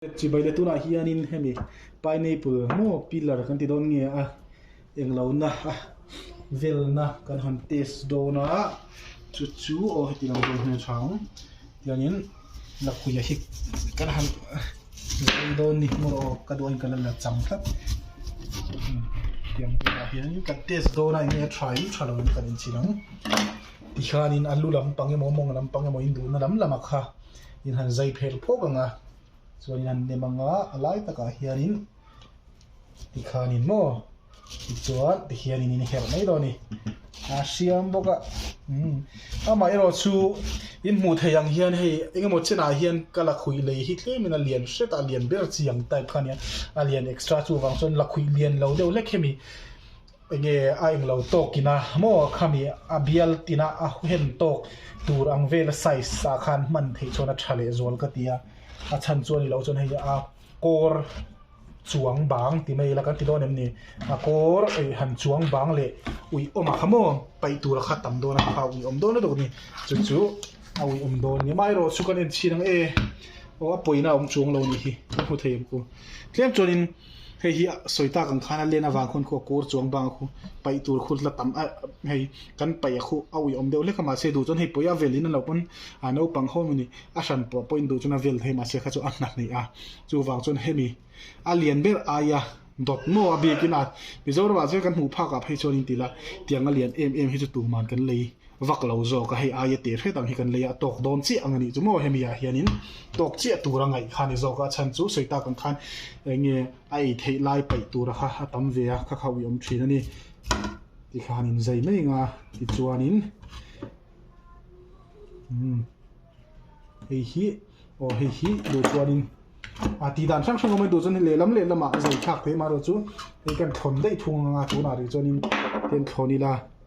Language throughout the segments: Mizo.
Chibai leh tunah hianin hemi pineapple maw pillar kan ti dawn nge a eng lo na a velna kan han test dawn a chu chu aw heti lo dawn hmel tha ang tiangin lakhuih ah hi kan han zui dawn ni hmawr aw ka duh a inka la la cham tlat tiang tunah hian kan test dawn a eng nge tha in tha lo in kan inchhin ang tikhianin a lu lampang emaw a mawng lampang emaw induhna lam lam a kha-- In han zai phel phawk ang a, chuan in han nem ang a, a lai takah hianin tikhanin maw tichuan tikhianin in herh mai lo a ni. A hriam bawk a, umm amah erawh chu in hmuh theih ang hian hei eng emaw chenah hian ka la khuih lei hi tlemin a lian hret a, a lian ber chi ang type kha a nia, a lian extra chu avang chuan la khuih lian lo deuh hlek khe mi. Enge a englo tawk ina maw khami a bial tina a huhen tawk tur ang vela size ah khan hman theih chuan a tha leh zual ka ti a, a chhan chuan ilo chuan hei a kawr chuang bang ti mai ila kan ti dawn em ni? A kawr eih han chuang bang leh ui awm a kha maw paih tur a kha tam dawn a kha ui awm dawn lutuk a ni chu chu a ui awm dawn a ni, amaherawhchu kan en chhin ang e aw a pawina awm chuang lo ni hi ka hmu thei ang ku. Tlem chuan in hei hi sawi ta kan khan a len avang khawn khuh a kawr chuang bang a khu paih tur khur hla tam a hei kan paih a khu a ui awm deuh hlek a mahse duh chuan hei pawih a vel in a lo pawn a naupang ho mawni a hran pawh pawhin duh chuan a vel hei mahse kha chu a hna hneih a chu vang chuan hemi a lian ber ai a dawt maw a bik in a Mizoram ah chuan kan hmuh phak ah phei chuan in ti la tiang a lian em em hi chu tuman kan lei Vak lo zawka hei aia teh hret ang hi kan lei a, tawk dawn chiah ang a nih chu maw? Hemi ah hianin tawk chiah tur a ngaih kha a ni zawka a chhan chu sawi tak ang khan enge a ei theih lai paih tura kha a tam ve a, kha kha ui awm thin a ni tih khan in zei mai anga tichuanin umm hei hi aw hei hi duh chuanin a tih dan hrang hrang awm a nih duh chuan lehlam lehlam ah a zei thlak theih mahlo chu hei kan thlawn daih thung anga tunah rih chuanin hei an thlawn ila.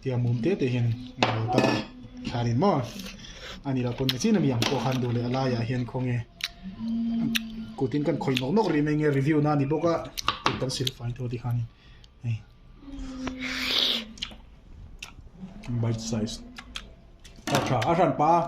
Tiang mum te te hian a lo ta a, thla rin maw? A ni lo, kawnge chin a mi ang pawh khan duh leh a laiah hian khaw nge kutin kan khawih nawk nawk rih mai nge review na a ni bawk a, kut kan sil fai tawh tikhanin hei bite size a tha a hran pa a.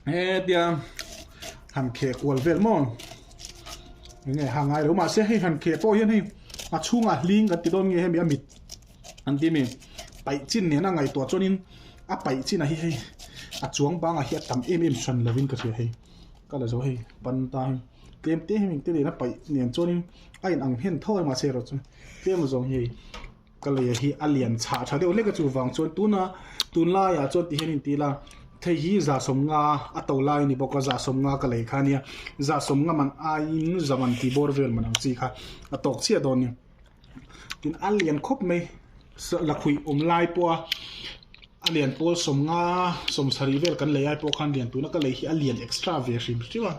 he tia han kheh kual vel maw eng nge ha ngai lo mah se hei han kheh pawh hian hei a chhungah hling kan ti dawn nge hemi a mit an ti mi paih chin nena ngaihtuah chuanin a paih chinah hi hei a chuang bangah hi a tam em em hran lovin ka hria hei ka la zo hei pan ta hei tlem te hemi te nena paih nen chuanin a inang hmen tho a mahse erawh chuan tlem a zawng hi hei Ka lei a hi a lian chhah tha deuh hlek a chuvang chuan tuna tun laiah chuan tihian in ti la, thei hi Zahsawm nga a to lai a ni bawk a, Zahsawm nga ka lei kha a nia, Zahsawm nga man aiin Zaman tih bawr vel man ang chi kha a tawk chiah dawn a ni. Tin a lian khawp mai lakhuih awm lai pawha a lian pawl sawm nga sawmsarih vel kan lei ai pawh khan lian tuna ka lei hi a lian extra ve hrim hrim a.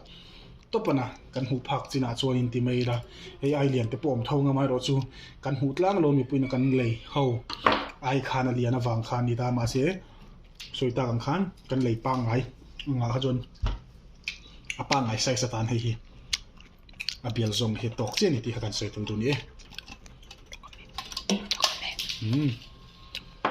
Topana kan hmuh phak chinah chuan in ti mai ila, AI lian te pawh awm tho ngam erawh chu kan hmuh tlang lo mipuina kan lei ho ai khan a lian avang kha a ni ta, mahse sawi tak ang khan kan lei pangngai angah kha chuan a pangngai size atan hei hi a bial zawng hi tawk chiah a ni tih kha kan sawi tel dun ni e.